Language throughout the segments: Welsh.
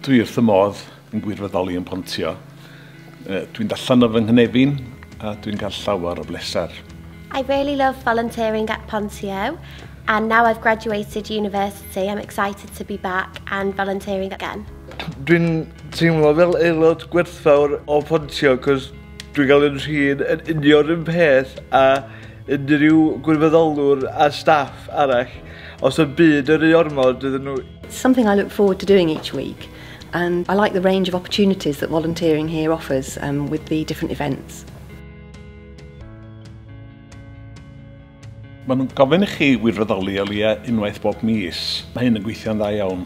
Dwi wrth y modd yn gwirfoddoli yn Pontio. Dwi'n dallan o fy nghynefin a dwi'n cael llawer o bleser. I really love volunteering at Pontio and now I've graduated university I'm excited to be back and volunteering again. Dwi'n teimlo fel aelod gwerthfawr o Pontio cos dwi'n cael yn rhin yn union un peth a unrhyw gwirfoddolwr a staff arall. Os y byd yr u ormod iddyn nhw... Something I look forward to doing each week and I like the range of opportunities that volunteering here offers um, with the different events. Maen nhw'n gofyn i chi wirfoddoli o leia unwaith bob mis. Mae hyn yn gweithio'n dda iawn.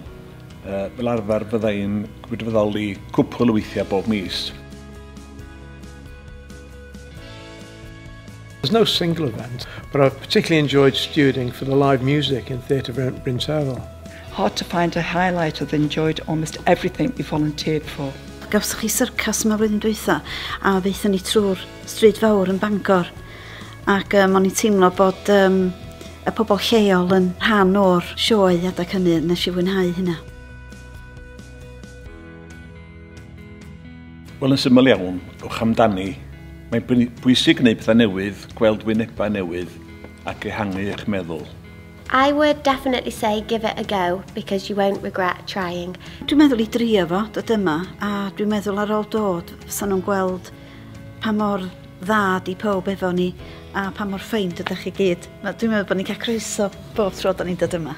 Uh, fel arfer fydda i'n wirfoddoli cwpl o weithiau bob mis. There's no single event, but I've particularly enjoyed stewarding for the live music in Theatre Bryn Terfel. Hard to find a highlight, I've enjoyed almost everything we volunteered for. Gawsoch chi syrcas yma flwyddyn dwytha, a ddeitha ni trwy'r stryd fawr yn Bangor, ac um, o'n i'n teimlo bod um, y pobl lleol yn rhan o'r sioe adeg hynny, nes i fwynhau hynna. Wel, yn syml iawn, ewch amdani. Mae'n bwysig gwneud pethau newydd, gweld wynebau newydd ac ehangu eich meddwl. I would definitely say give it a go because you won't regret trying. Dwi'n meddwl i drio fo, dod yma, a dwi'n meddwl ar ôl dod, fysa nhw'n gweld pa mor dda di pob efo ni a pa mor ffeind ydych chi gyd. Dwi'n meddwl bod ni'n cael croeso bob tro da ni'n dod yma.